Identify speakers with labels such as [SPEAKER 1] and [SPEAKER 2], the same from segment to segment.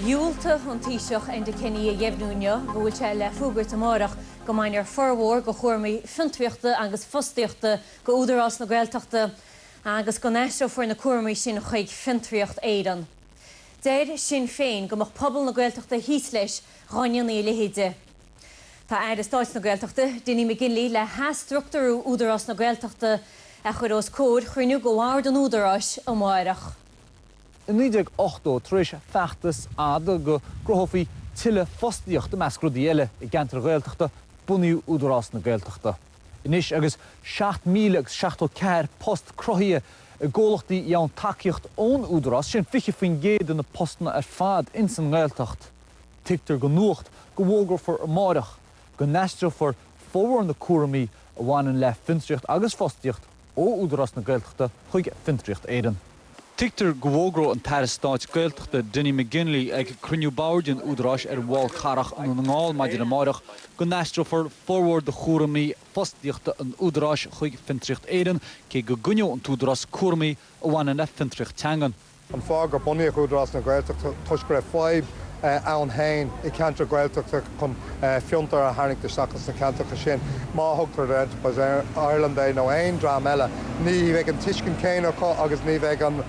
[SPEAKER 1] Dhiúltaigh an Taoiseach Enda Kenny a dheimhniú inniu go bhfuil sé le fógairt amárach go mbainfear formhór de chúramaí fiontraíochta agus fostaíochta de Údarás na Gaeltachta agus go n-aistreofar na cúramaí sin chuig Fiontraíocht Éireann. Deir Sinn Féin go mbeadh pobal na Gaeltachta thíos leis dá ndéanfaí a leithéid. Tá Aire Stáit na Gaeltachta, Dinny McGinley le hathstructúrú Údarás na Gaeltachta a chur os comhair chruinniú de Bhord an Údaráis amárach.
[SPEAKER 2] I 1980, tar éis feachtas fhada go gcruthófaí tuilleadh fostaíocht i measc rudaí eile i gceantair Ghaeltachta, bunaíodh Údarás na Gaeltachta. Anois agus seacht míle agus seachtó ceathair post cruthaithe i gcomhlachtaí a fhaigheann tacaíocht ón Údarás, sin 20% de na postanna ar fad ins an nGaeltacht, tuigtear do Nuacht go bhfógrófar amáireach go n-aistreofar formhór na cúramaí a bhaineann le fiontraíocht agus fostaíocht ó Údarás na Gaeltachta chuig Fiontraíocht Éireann. Tuigtear go bhfógróidh an tAire Stáit Gaeltachta Dinny McGinley ag cruinniú Boird an Údaráis ar an bhFál Carrach i nDún na nGall maidin amárach go n-aistreofar formhór de chúraimí fostaíochta an Údaráis chuig Fiontraíocht Éireann cé go gcoinneoidh an tÚdarás cúramaí a bhaineann le fiontraíocht teangan. an fáth gur
[SPEAKER 3] bunaíodh Údarás na Gaeltachta toisc go raibh fadhb ann féin i gceantar Gaeltachta chun fiontair a tharraingt isteach ins na ceantracha sin. Má thugtar ar Enterprise Ireland é nó aon dream eile ní bheidh an tuiscint céanna acu agus ní bheidh an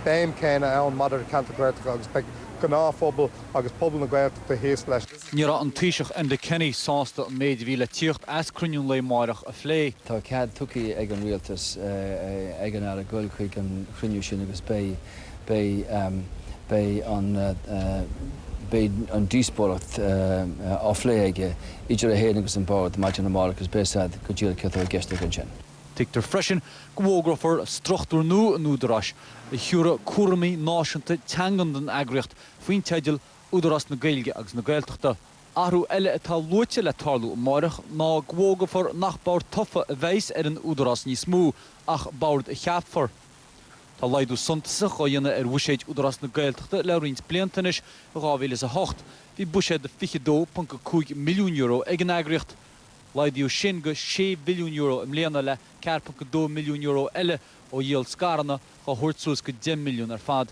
[SPEAKER 3] béim céanna ann maidir le ceantair Ghaeltachta agus beidh gnáthphobal agus pobal na Gaeltachta thíos leis. Ní raibh an
[SPEAKER 2] Taoiseach Enda Kenny sásta an méid a bhí le tíocht as cruinniú an lae máireach a phlé. Tá cead
[SPEAKER 4] tugtha ag an Rialtas ag an Aire goil chuig an chruinniú sin agus beidh an díospóireacht á phlé aige idir é féin agus an Bord maidin amárach agus beidh siad go díreach cad atá i gceist aige ansin. Tuigtear
[SPEAKER 2] freisin go bhfógrófar struchtúr nua an Údaráis a thiúrfaidh cúramaí náisiúnta teangan don eagraíocht faoin teideal Údarás na Gaeilge agus na Gaeltachta. Athrú eile atá luaite le tarlú amárach ná go bhfógrófar nach bord tofa a bheas ar an Údarás níos mó ach bord a cheapfar. Tá laghdú suntasach á dhéanamh ar bhuiséad Údarás na Gaeltachta le roinnt blianta anois, i 2008 bhí buiséad de €22.5 milliún ag an eagraíocht, laghdaíodh sin go €6 mhilliún i mbliana le €4.2 milliún eile ó dhíol scaireanna dhá thabhairt suas go 10 milliún ar fad.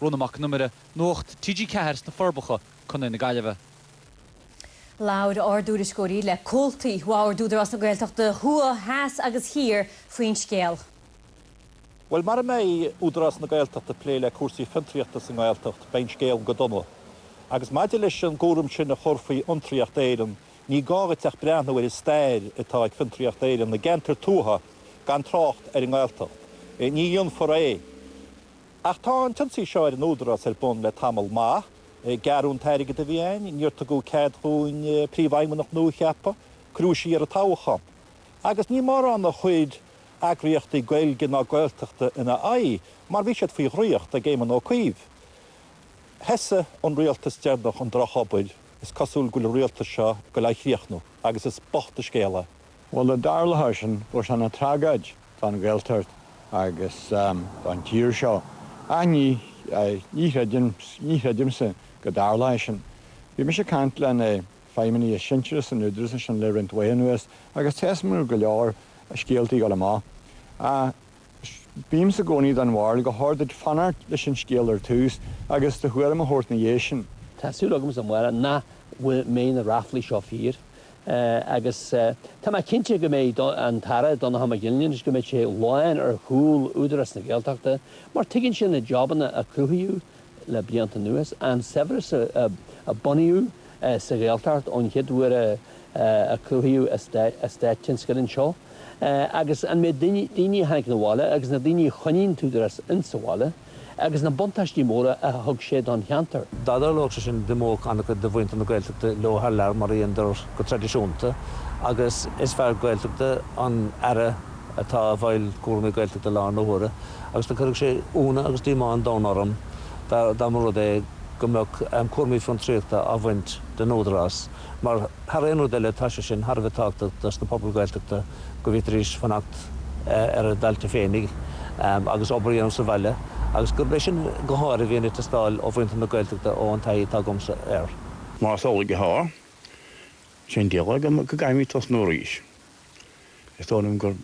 [SPEAKER 2] Rónán Mac Con Iomaire. Nuacht TG4 sna Forbacha, Co na
[SPEAKER 1] Gaillimhe. Labhair ár dtuairisceoirí le comhaltaí Bhord Údarás na Gaeltachta thuaidh, theas agus thiar faoin scéal.
[SPEAKER 5] Bhuel, mara mbeidh Údarás na Gaeltachta ag plé le cúrsaí fiontraíochta sa nGaeltacht, beidh an scéal go dona. Agus maidir leis an gcúram sin a chur faoi Fhiontraíocht Éireann, ní gá dhuit ach breathnú ar an stair atá ag Fiontraíocht Éireann i gceantair tuaithe, gan trácht ar an nGaeltacht. Ní dhéanfar é. Ach tá an t-ionsaí seo ar an Údarás ar bun le tamall maith. Gearradh an t-airgead a bhí ann, níor tugadh cead dhúinn príomhfheidhmeannach nua a cheapadh, cuireadh siar an toghchán. Agus ní mórán a chuir eagraíochtaí Gaeilge ná Gaeltachta ina aghaidh mar bhí siad faoi dhraíocht ag Éamon Ó Cuív. Thosaigh an rialtas deireanach an drochobair, is cosúil go bhfuil an rialtas seo ag dul á chríochnú agus is bocht an scéal é. Bhuel, dá dtarlódh
[SPEAKER 6] sin bheadh sé ina tragóid don Ghaeltacht agus don tír seo? Ach ní chreidimse go dtarlóidh sin. Bhí mise ag caint le na feidhmeannaigh is sinsearaí san Údarás ansin le roinnt laetha anuas agus tá a fhios agam go bhfuil go leor scéaltaí ag dul amach. Bímse i gcónaí den bharúil gur fhearr duit fanacht leis an scéal ar tús agus do thuairim a thabhairt ina dhiaidh sin. Tá súil agamsa amárach
[SPEAKER 7] nach mbeidh na ráflaí seo fíor agus tá mé cinnte go mbeidh an tAire Donnchadh Mac Fhionnlaoich go mbeidh sé lán ar chúl Údarás na Gaeltachta mar tuigeann sé na jabanna a cruthaíodh le blianta anuas, an saibhreas a bunaíodh sa Ghaeltacht ón chéad uair a cruthaíodh eastáit tionscail anseo agus an méid daoine a tháinig na bhaile agus na daoine a choinnigh an tÚdarás insa bhaile agus na buntáistí móra a thug sé don cheantar. Dá dtarlódh sé
[SPEAKER 8] sin, d'imeodh an-chuid de mhuintir na Gaeltachta leo thar lear mar a dheineadar go traidisiúnta agus is fear Gaeltachta an Aire atá i bhfeighil cúraimí Gaeltachta i láthair na huaire agus do chuirfeadh sé iúnadh agus díomá an domhain orm dá mba rud é go mbeadh cúraimí fiontraíochta á bhaint den Údarás mar thar aon rud eile tá sé sin thar a bheith tábhachtach dos na pobail Ghaeltachta go bhféadfaidís fanacht ar a dtailte féinig agus obair a dhéanamh sa bhaile agus gurb é sin go háirithe a bhíonn ag teastáil ó mhuintir na Gaeltachta ó an taithí atá agamsa air. Más amhlaidh athá,
[SPEAKER 9] cén dealramh agam go gcaithfimid tosnú arís? Is dóigh liom go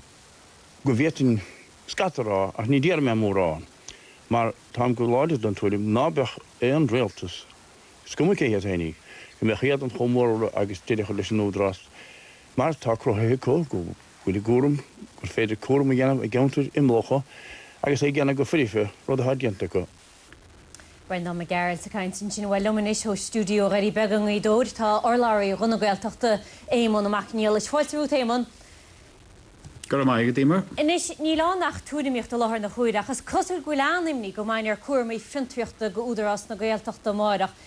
[SPEAKER 9] bhféadfainn scata a rá ach ní déarfaidh mé mórán mar táim go láidir den tuairim ná beadh aon rialtas, is cuma cé hiad féinig, go mbeadh éadan chomh mór agus deireadh a chur leis an Údarás mar atá cruthaithe acu, go bhfuil a gcúram, gur féidir cúram a dhéanamh i gceantair imeallacha agus é a dhéanamh go foirfe, rud atá déanta acu.
[SPEAKER 1] Breandán Mac Gearailt ag caint ansin. Bhuel, liom anois ó stiúideo Dhoirí Beaga i nGaoth Dobhair tá urlabhraí Ghuth na Gaeltachta, Éamonn Mac Niallais. Fáilte romhat, Éamonn.
[SPEAKER 10] Go raibh maith agat, Eimear. Anois, níl ann
[SPEAKER 1] ach tuairimíocht i láthair na huaire ach is cosúil go bhfuil an-imní go mbainfear cúraimí fiontraíochta de Údarás na Gaeltachta amárach.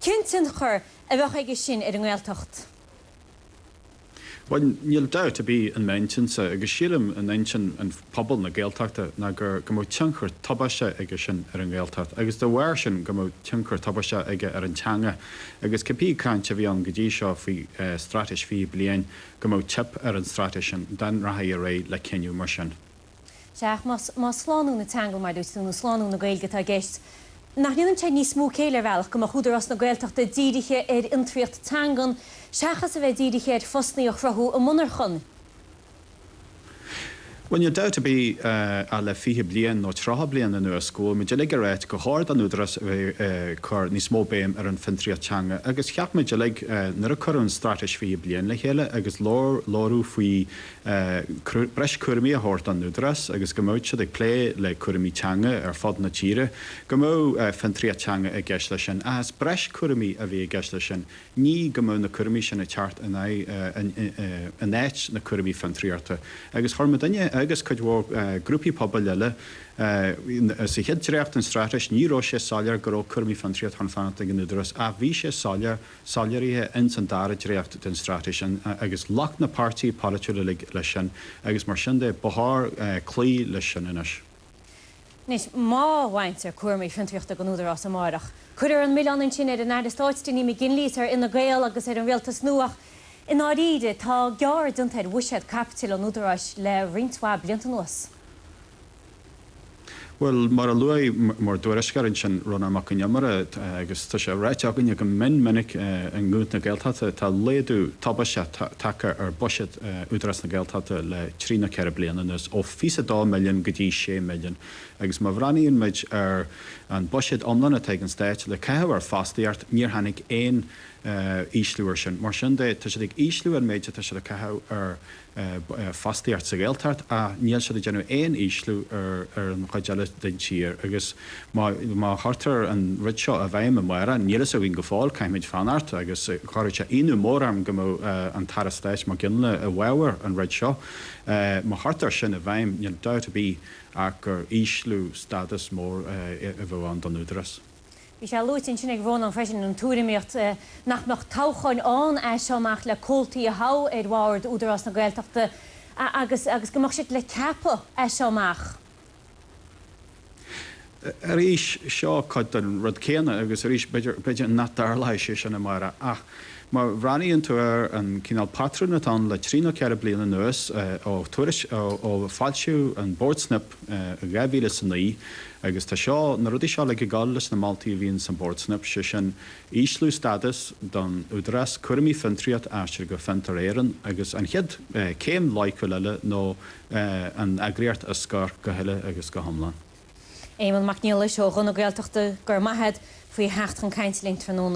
[SPEAKER 1] Cén tionchar a bheadh aige sin ar an nGaeltacht?
[SPEAKER 10] Bhuel, níl dabht ar bith in m'intinnse, agus sílim in intinn an phobal na Gaeltachta, ná gur go mbeadh tionchar tubaisteach aige sin ar an nGaeltacht, agus dá bharr sin go mbeadh tionchar tubaisteach aige ar an teanga, agus cibé caint a bhí ann go dtí seo faoi Straitéis 20 Bliain, go mbeadh teip ar an Straitéis sin dá rachfaí ar aghaidh le cinneadh mar sin.
[SPEAKER 1] Sea, más slánú na teanga, mar a dúirt tú, nó slánú na Gaeilge atá i gceist, nach ndéanann sé níos mó céille, ar bhealach, go mbeadh Údarás na Gaeltachta dírithe ar fhiontraíocht teangan seachas a bheith dírithe ar phostanna a chruthú i monarchan?
[SPEAKER 10] Bhuel, níl dabht ar bith ach le fiche bliain nó tríocha bliain anuas go bhfuil muid uilig a ráit gur chóir don Údarás a bheith ag cur níos mó béime ar an fiontraíocht teanga agus cheap muid uilig nuair a cuireadh an Straitéis Fiche Bliain le chéile agus labhair, labhraíodh faoi breis cúraimí a thabhairt don Údarás agus go mbeadh siad ag plé le cúraimí teanga ar fud na tíre, go mbeadh fiontraíocht teanga i gceist leis sin, ach is breis cúraimí a bhí i gceist leis sin, ní go mbeadh na cúraimí sin ag teacht in aghaidh, in áit na cúraimí fiontraíochta. Agus chuir muidinne agus cuid mhór grúpaí pobail eile, sa chéad dréacht den Straitéis ní raibh sé soiléir go raibh cúraimí fiontraíochta chun fanacht ag an Údarás ach bhí sé soiléir, soiléirithe ins an dara dréacht den straitéis sin agus ghlac na páirtithe polaitiúla uilig leis sin agus mar sin de ba chóir cloí leis sin anois. Anois,
[SPEAKER 1] má bhaintear cúramaí fiontraíochta den Údarás amáireach, cuirfear an milleán ansin ar an Aire Stáit Dinny McGinley is ar Fhine Gael agus ar an Rialtas nua ach i ndáiríre tá gearradh déanta ar bhuiséad caipitil an Údaráis le roinnt mhaith blianta anuas.
[SPEAKER 10] Bhuel, mar a luaigh bhur dtuairisceoir ansin, Rónán Mac an Iomaire, agus tá sé ráite againne go mion minic i nGuth na Gaeltachta, tá laghdú tubaisteach tagtha ar buiséad Údarás na Gaeltachta le trí nó ceithre bliana anuas, ó fiche is a dó milliún go dtí sé milliún, agus má bhreathnaíonn muid ar an buiséad iomlán atá ag an Stát le caitheamh ar fostaíocht, níor tháinig aon ísliú air sin. Mar sin de, tá siad ag ísliú an méid atá siad ag caitheamh ar fostaíocht sa Ghaeltacht ach níl siad ag déanamh aon ísliú ar an chuid eile den tír agus má chuirtear an rud seo i bhfeidhm a Mháire, níl fhios againn go fóill, caithfimid fanacht agus chuirfeadh sé ionadh mór orm go mbeadh an tAire Stáit Mac Gionnaile i bhfabhar an rud seo. Má chuirtear sin i bhfeidhm, níl dabht ar bith ach gur ísliú stádas mór a bheadh ann don Údarás. Bhí sé
[SPEAKER 1] luaite ansin ag Rónán freisin, an tuairimíocht nach mbeadh toghcháin ann as seo amach le comhaltaí a thoghadh ar Bhord Údarás na Gaeltachta agus go mbeadh siad le ceapadh as seo amach.
[SPEAKER 10] Arís, seo cuid den rud céanna agus arís b'fhéidir nach dtarlóidh sé sin, a Mháire, ach má bhreathnaíonn tú ar an cineál patrún atá ann le trí nó ceithre bliana anuas ó foilsíodh an Bord Snip i 2009 agus tá seo, na rudaí seo uilig ag dul leis na moltaí a bhí in san Bord Snip, sé sin, ísliú stadas don Údarás, cúraimí fiontraíochta a aistriú go Fiontar Éireann agus an chéad céim loighciúil eile nó an eagraíocht a scor go huile agus go hiomlán. Éamonn
[SPEAKER 1] Mac Niallais ó Ghuth na Gaeltachta, go raibh maith agat faoi theacht chun cainte linn tráthnóna.